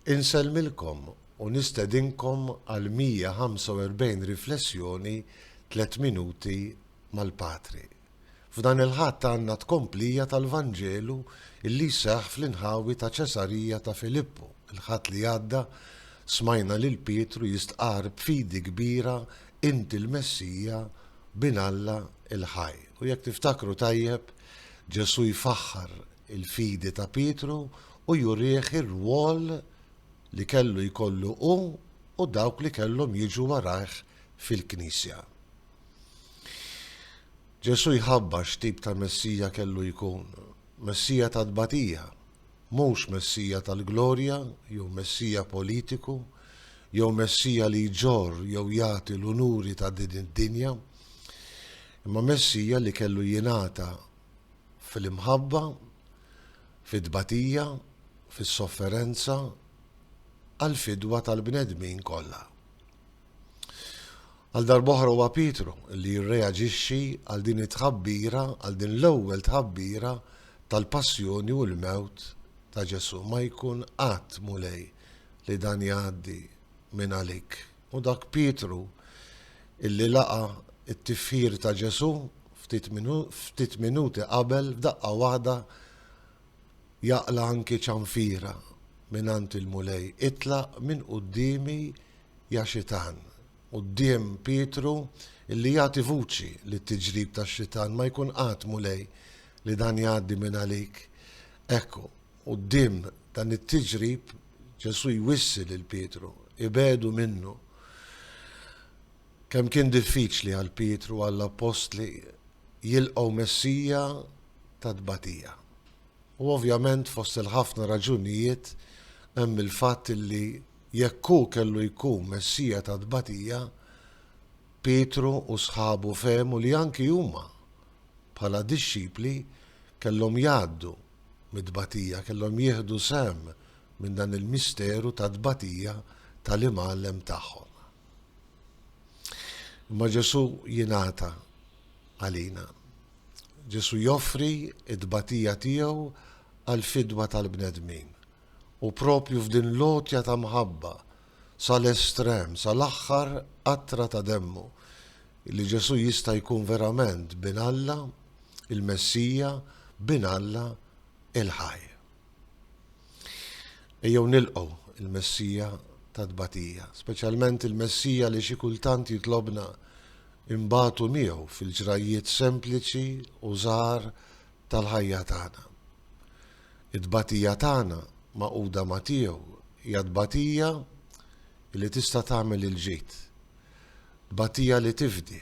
Insellmilkom u nistedinkom għal 145 riflessjoni tliet minuti mal-Patri. F'dan il-Ħadd għandna tkomplija tal-Vanġelu illi jseħħ fl-inħawi ta' Ċesarija ta' Filippu. Il-Ħadd li għadda smajna lil Pietru jistqarr b'fidi kbira Inti l-Messija, Bin Alla il-Ħaj. U jekk tiftakru tajjeb, Ġesù jfaħħar il-fidi ta' Pietru u jurih ir-rwol li kellu jkollu hu u dawk li kellhom jiġu warajh fil-Knisja. Ġesù jħabbar x'tip ta' Messija kellu jkun, Messija ta' tbatija, Mhux Messija tal-glorja, jew Messija politiku, jew Messija li jġorr jew jagħti l-unuri ta' din id-dinja, imma Messija li kellu jingħata fil-imħabba, fit-tbatija, fis-sofferenza, għall-fidwa tal-bnedmin kollha. Għal darb'oħra huwa Pietru li jirreaġixxi għal din it-tħabbira, għal din l-ewwel tħabbira tal-passjoni u l-mewt ta' Ġesù. Ma jkun qatt, Mulej, li dan jgħaddi minn għalik. U dak Pietru illi laqa it-tifħir ta' Ġesù ftit minuti qabel f'daqqa waħda Jaqla' anki ċanfira mingħand il-Mulej, Itlaq minn quddiemi ja Xitan! Quddiem Pietru li jagħti vuċi lit-tiġrib tax-Xitan, Ma jkun qatt, Mulej, li dan jgħaddi mingħalik. Ekku, quddiem dan it-tiġrib, Ġesù jwissi lil Pietru, Ibegħdu minnu. Kemm kien diffiċli għal Pietru u għall-appostli jilqgħu Messija ta' tbatija! U ovvjament fost il-ħafna raġunijiet hemm il-fatt li jekk hu kellu jkun Messija ta' tbatija, Pietru u sħabu fehmu li anki huma, bħala dixxipli, kellhom jgħaddu mit-tbatija, kellhom jieħdu sehem minn dan il-misteru ta' tbatija tal-Imgħallem tagħhom. Imma Ġesù jingħata. għalina. Ġesù joffri t-tbatija tiegħu għall-fidwa tal-bnedmin. U proprju f'din l-għotja ta' mħabba sal-estrem, sal-aħħar qatra ta' demmu, li Ġesù jista' jkun verament Bin Alla, il-Messija, Bin Alla il-ħaj. Ejjew nilqgħu l-Messija tat-tbatija, speċjalment il-Messija li xi kultant jitlobna nbatu miegħu fil-ġrajjiet sempliċi u żgħar tal-ħajja tagħna. It-tbatija tagħna magħquda ma' tiegħu hija tbatija li tista' tagħmel il-ġid, tbatija li tifdi,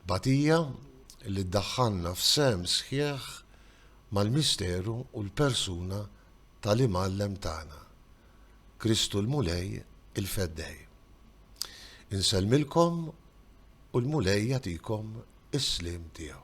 tbatija li ddaħħalna f'sehem sħiħ mal-misteru u l-persuna tal-Imgħallem tagħna, Kristu l-Mulej il-Feddej. Insellmilkom u l-Mulej jagħtikom is-sliem tiegħu.